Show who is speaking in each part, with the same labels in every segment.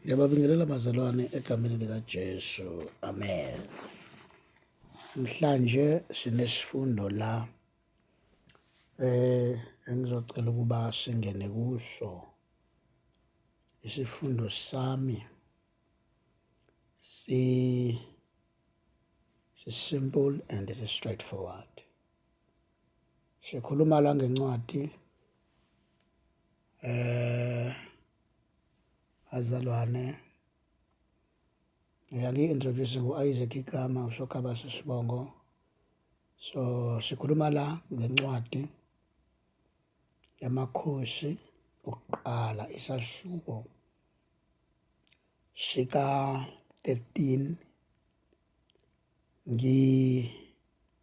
Speaker 1: Ngiyababingelela bazalwane egameni likaJesu. Amen. Mhlanje sinesifundo la eh engizocela ukuba singene kuso. Isifundo sami si si simple and si straightforward. sikhuluma la ngencwadi eh azalwane yangi-introduce ngu-isaac igama usokaba sesibongo so sikhuluma la ngencwadi yamakhosi okuqala isahluko sika-13 ngi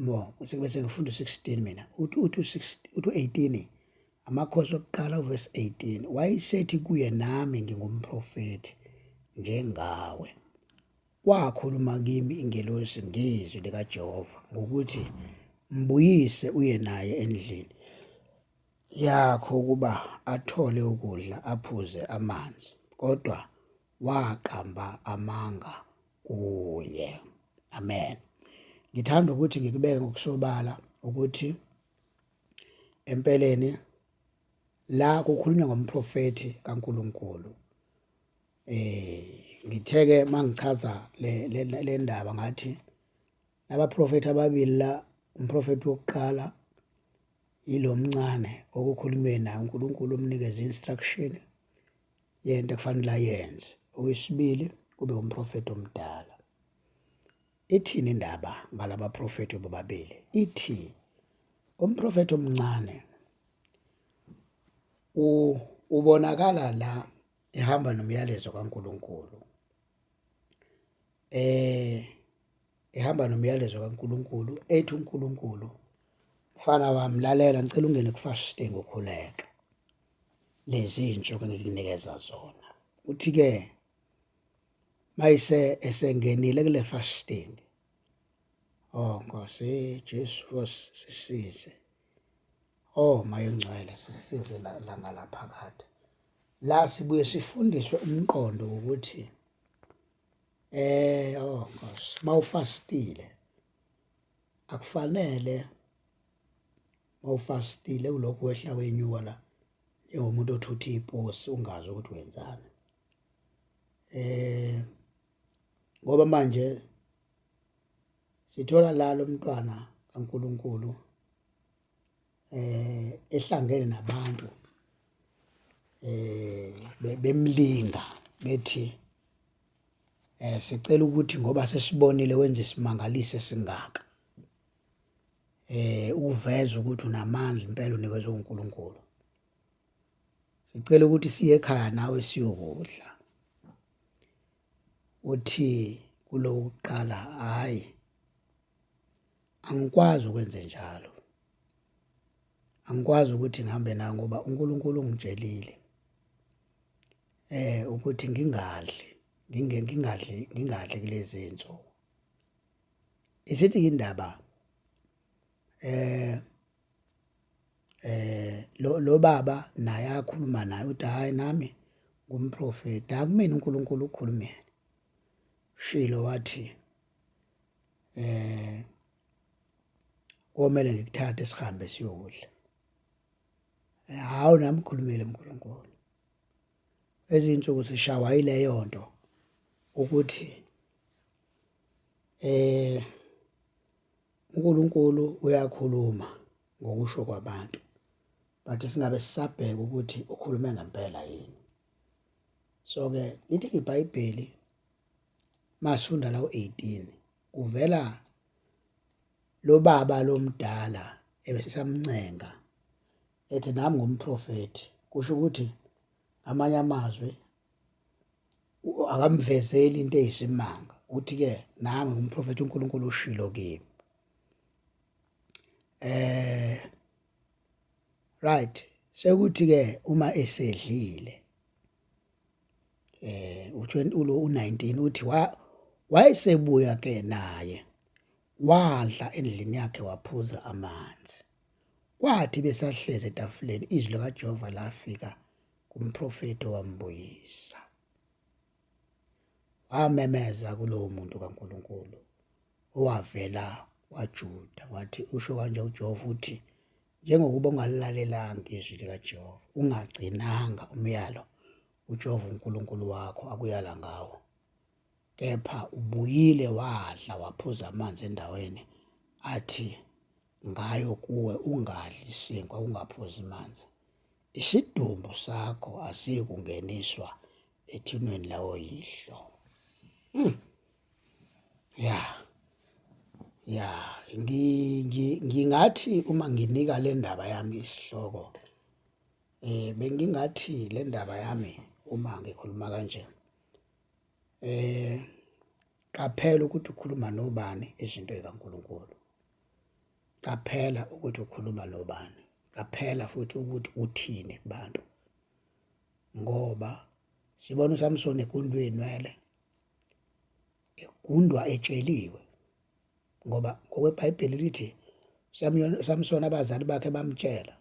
Speaker 1: Ngo kuthi kube sengifunda u-16 mina. Uthi uthi u-18 amakhosi okuqala uverse 18 wayesethi kuye nami ngingumprofethi njengawe. Wakhuluma kimi ingelosi ngezwi likaJehova ngokuthi mbuyise uye naye endlini yakho ukuba athole ukudla aphuze amanzi kodwa waqamba amanga kuye. Amen. Ngithanda ukuthi ngikubeke ngokusobala ukuthi empeleni la kukhulunywa ngomprofeti kaNkuluNkulu. Eh ngitheke mangichaza le le ndaba ngathi abaprofeti ababili la umprofeti wokuqala yilomncane okukhulunywe naye uNkulunkulu umnikeza instruction yento ekufanele ayenze owesibili kube umprofeti omdala ithini indaba ngalaba profeti bobabili ithi umprofeti omncane ubonakala la ehamba nomyalezo kaNkuluNkulu eh ehamba nomyalezo kaNkuluNkulu ethi uNkuluNkulu mfana wami lalela ngicela ungene kufasting ukhuleke lezi nsuku ngikunikeza zona uthi ke mayise esengenile kule fasting oh nkosi Jesu sisize oh mayengcwele sisize la ngalaphakade la sibuye sifundiswe umqondo ukuthi eh oh nkosi mawufastile akufanele mawufastile ulokhu wehla wenyuka la njengomuntu othutha iposi ungazi ukuthi wenzani eh ngoba manje sithola la lo mntwana kaNkuluNkulu eh ehlangene nabantu eh bemlinga bethi eh sicela ukuthi ngoba sesibonile wenza isimangaliso singaka eh ukuveza ukuthi unamandla impela unikezwe uNkulunkulu sicela ukuthi siye ekhaya nawe siyokudla uthi kulokuqala hayi angikwazi ukwenze njalo angikwazi ukuthi ngihambe nayo ngoba uNkulunkulu ungitshelile eh ukuthi ngingadli ngingadli ngingadli kulezi zinsuku isithi indaba eh eh lo lo baba naye akhuluma naye uthi hayi nami ngumprofeti akumina uNkulunkulu ukhulume shilo wathi eh komele ngikuthathe sihambe siyokudla hawu nami khulumile uNkulunkulu ezinsuku sishawa ileyo nto ukuthi eh uNkulunkulu uyakhuluma ngokusho kwabantu but singabe sisabheka ukuthi ukhulume ngempela yini so ke lithi iBhayibheli masifunda la u18 kuvela lo baba lomdala ebesesamncenga ethi nami ngumprofeti kusho ukuthi amanye amazwi akamvezeli into eyisimanga uthi ke nami ngumprofeti uNkulunkulu ushilo kimi eh right sekuthi ke uma esedlile eh u20 ulo u19 uthi wa wayesebuya ke naye wadla endlini yakhe waphuza amanzi kwathi besahleze etafuleni izwi likaJehova lafika kumprofethi owambuyisa. Wamemeza kulowo muntu kaNkulunkulu owavela kwaJuda wathi usho kanje uJehova uthi njengokuba ungalilalelanga izwi likaJehova ungagcinanga umyalo uJehova uNkulunkulu wakho akuyala ngawo kepha ubuyile wadla waphuza amanzi endaweni athi ngayo kuwe ungadli sinkwa ungaphuzi manzi Isidumbu sakho asiyikungeniswa ethuneni lawoyihlo. Mm. Ya. Ya, ngingathi uma nginika le ndaba yami isihloko, eh bengingathi le ndaba yami uma ngikhuluma kanje, eh qaphela ukuthi ukhuluma nobani izinto zikaNkulunkulu. Qaphela ukuthi ukhuluma nobani. Qaphela futhi ukuthi uthini kubantu. Ngoba sibona uSamson egundwe inwele. Egundwa etsheliwe. Ngoba ngokweBhayibheli lithi Samson abazali bakhe bamtshela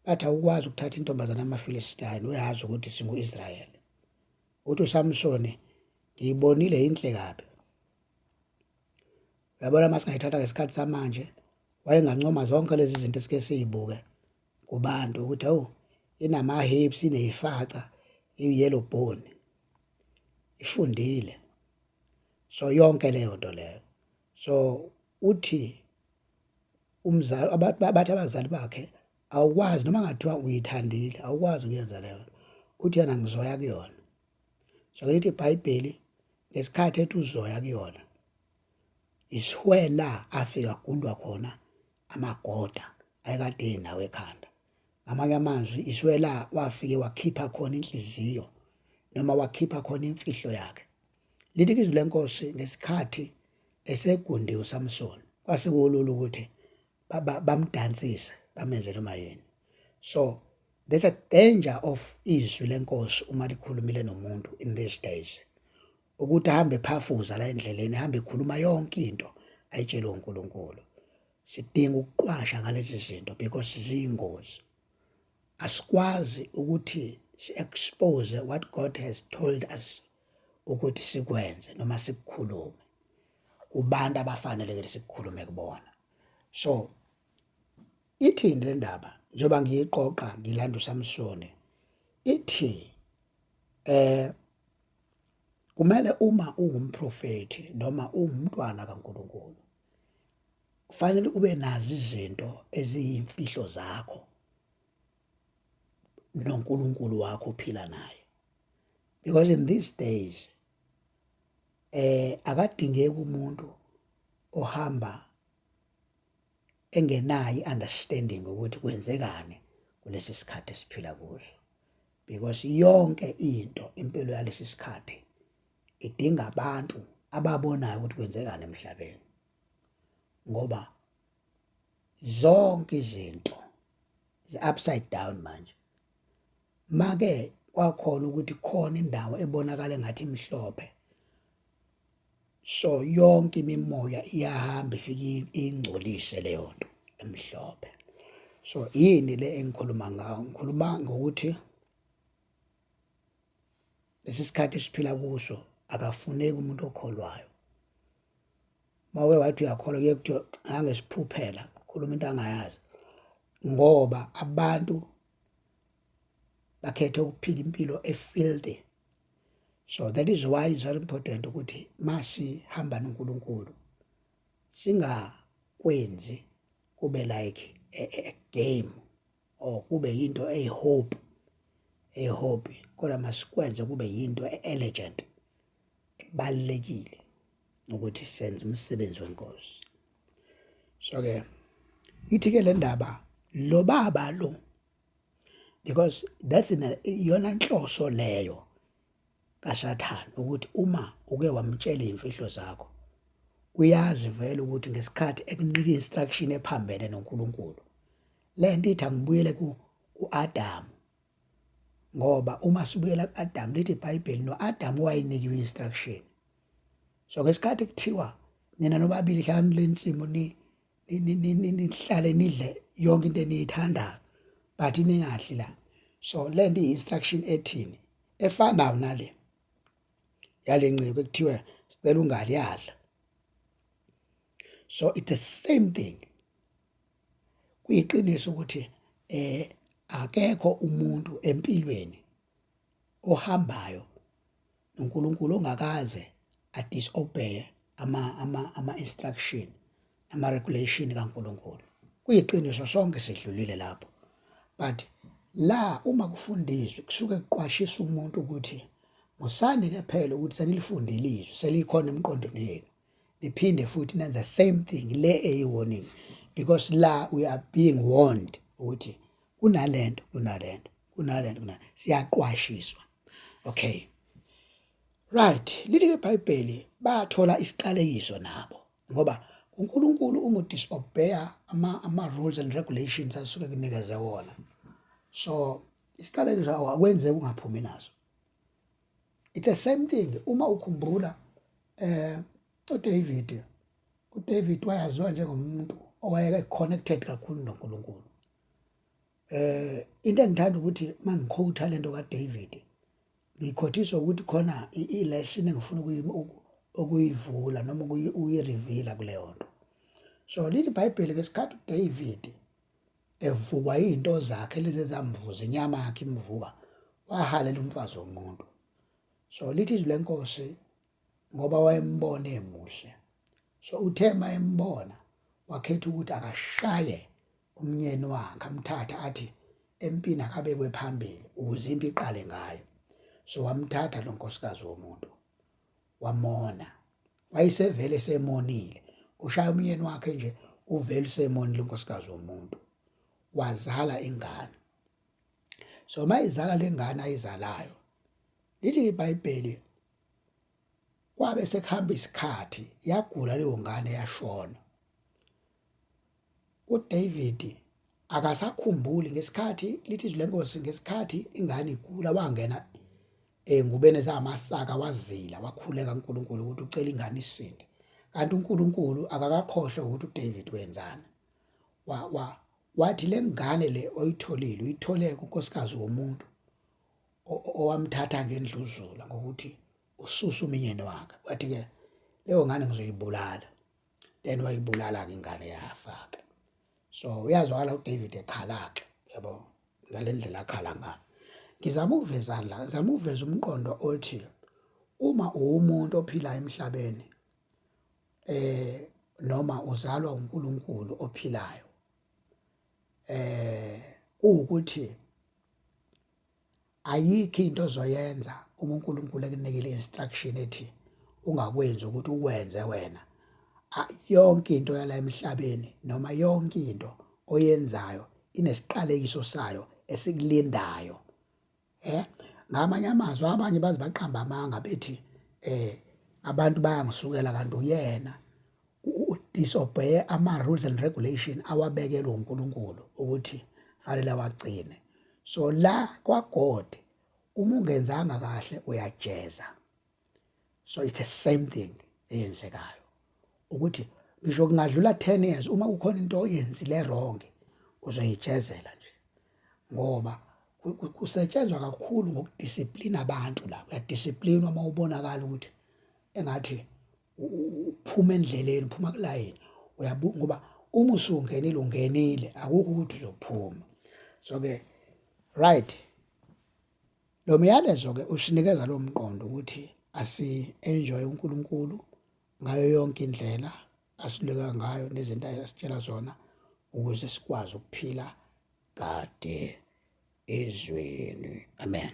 Speaker 1: bathi awukwazi ukuthatha intombazana yamaFilistiya uyazi ukuthi singu-Israyeli. Uthi uSamson ngiyibonile yinhle kabi. uyabona uma singayithatha ngesikhathi samanje wayengancoma zonke lezi zinto esike siyibuke kubantu ukuthi hawu inama-hips ineyifaca iwu-yellow bone ifundile so yonke leyo nto leyo so uthi umzali bathi abazali bakhe awukwazi noma ngathiwa uyithandile awukwazi ukuyenza leyo uthi yena ngizoya kuyona so lithi ibhayibheli ngesikhathi ethi uzoya kuyona isihwela afike agundwa khona amagoda ayekade enawo ekhanda ngamanye amazwi isihwela wafike wakhipha khona inhliziyo noma wakhipha khona imfihlo yakhe lithi kizwi lenkosi ngesikhathi esegundiwe uSamson kwase kulula ukuthi bamdansise bamenze noma yini so there's a danger of izwi lenkosi uma likhulumile nomuntu in these days ukuthi ahambe phafuza la endleleni ahambe ekhuluma yonke into ayitshelwe uNkulunkulu sidinga ukuqwasha ngalezi zinto because ziyingozi asikwazi ukuthi si-expose what God has told us ukuthi sikwenze noma sikukhulume kubantu abafanelekile sikukhulume kubona so ithini le ndaba njengoba ngiyiqoqa ngilanda uSamsoni ithi eh kumele uma ungumprofeti noma ungumntwana kaNkuluNkulu kufanele ube nazi izinto eziyimfihlo zakho noNkulunkulu wakho ophila naye because in these days eh akadingeki umuntu ohamba engenayi understanding ukuthi kwenzekani kulesi sikhathi esiphila kuso because yonke into impilo yalesi sikhathi idinga abantu ababonayo ukuthi kwenzekani emhlabeni ngoba zonke izinto zi-upside down manje make kwakhona ukuthi khona indawo ebonakala ngathi imhlophe so yonke imimoya iyahamba ifike ingcolise leyo nto emhlophe so yini le engikhuluma ngayo ngikhuluma ngokuthi lesi sikhathi esiphila kuso akafuneki umuntu okholwayo mawe wathi uyakholwa kuye kuthiwa ngangesiphuphela khuluma into angayazi ngoba abantu bakhethe ukuphila impilo efilthy so that is why it's very important ukuthi masihamba noNkulunkulu singakwenzi kube like a, a game or kube yinto eyihope eyihope kodwa masikwenze kube yinto e-elegant ebalulekile ukuthi senze umsebenzi wenkosi so ke ithi ke le ndaba lo baba lo because that's in iyona nhloso leyo kaSathane ukuthi uma uke wamtshela imfihlo zakho uyazi vele ukuthi ngesikhathi ekunika instruction ephambene noNkulunkulu le nto ithi angibuyele ku-adamu ngoba uma sibuyela ku-adamu lithi ibhayibheli no-adamu wayenikiwe i-instruction so ngesikhathi kuthiwa nina nobabili hlalani kule nsimu nihlale nidle yonke into eniyithandayo but ningadli la so le nto iyi-instruction ethini efanayo nale yale nciko ekuthiwa sicela ungaliyadla so it's the same thing kuyiqiniso ukuthi eh akekho umuntu empilweni ohambayo noNkulunkulu ongakaze a disobey ama ama ama instruction ama regulation kaNkulunkulu kuyiqiniso sonke sidlulile lapho but la uma kufundiswa kusuke kuqwashisa umuntu ukuthi musani ke phela ukuthi senilifundile izwi selikhona emqondweni yenu niphinde futhi nenze same thing le eyi warning because la we are being warned ukuthi kunalento kunalento kunalento kuna siyaqwashiswa okay right lithi ke iBhayibheli bathola isiqalekiso nabo ngoba uNkulunkulu umu disobey ama ama rules and regulations asuke kunikeze wona so isiqalekiso akwenzeki ungaphumi naso it's the same thing uma ukhumbula Eh uDavid uDavid wayaziwa njengomuntu owayeke connected kakhulu noNkulunkulu. Eh into engithanda ukuthi mangikhotha lento kaDavid ngikhothisa ukuthi khona i-lesson engifuna ukuyivula noma ukuyi-reveal kuleyo nto. So lithi iBhayibheli ngesikhathi uDavid evukwa izinto zakhe lezi ezamvuza inyama yakhe imvuka wahalela umfazi womuntu so lithi izwi lenkosi ngoba wayembona emuhle so uthe mayembona wakhetha ukuthi akashaye umnyeni wakhe amthatha athi empini akabekwe phambili ukuze impi iqale ngayo so wamthatha lo nkosikazi womuntu wamona wayesevele semonile ushaya umyeni wakhe nje uvele usemonile unkosikazi womuntu wazala ingane so mayizala lengane ayizalayo lithi iBhayibheli kwabe sekuhamba isikhathi yagula leyo ngane yashona uDavid akasakhumbuli ngesikhathi lithi izwi lenkosi ngesikhathi ingane igula wangena engubeni eh, ezamasaka wazila wakhuleka uNkulunkulu ukuthi ucela ingane isinde kanti uNkulunkulu akakakhohlwa ukuthi uDavid wenzani wa wa Wathi le ngane le oyitholile uyithole kunkosikazi womuntu owamthatha ngendluzula ngokuthi ususa uminyeni wakhe. Wathi-ke leyo ngane ngizoyibulala. Then wayibulala-ke ingane yafa-ke. So uyazwakala uDavid ekhala-ke yabo ngale ndlela akhala ngayo. Ngizama ukuvezani la? Ngizama ukuveza umqondo othi uma uwumuntu ophilayo emhlabeni eh noma uzalwa uNkulunkulu ophilayo eh ukuthi ayikho into ozoyenza uma uNkulunkulu ekunikile instruction ethi ungakwenzi ukuthi ukwenze wena yonke into yala emhlabeni noma yonke into oyenzayo inesiqalekiso sayo esikulindayo Eh, ngamanye amazwi abanye baze baqamba amanga bethi eh abantu bayangisukela kanti uyena disobey ama rules and regulation awabekelwe uNkulunkulu ukuthi fanele wagcine so la kwaGod uma ungenzanga kahle uyajeza so it's the same thing eyenzekayo ukuthi ngisho kungadlula 10 years uma kukhona into oyenzile wrong uzoyijezela nje ngoba kusetshenzwa kakhulu ngokudiscipline abantu la uyadiscipline uma ubonakala ukuthi engathi uphuma endleleni uphuma kulayini uyabu ngoba uma usungenile ungenile akukho ukuthi uzophuma so ke right Lo myalezo ke usinikeza lo mqondo ukuthi asi-enjoy uNkulunkulu ngayo yonke indlela asileka ngayo nezinto ayasitshela zona ukuze sikwazi ukuphila kade ezweni. Amen.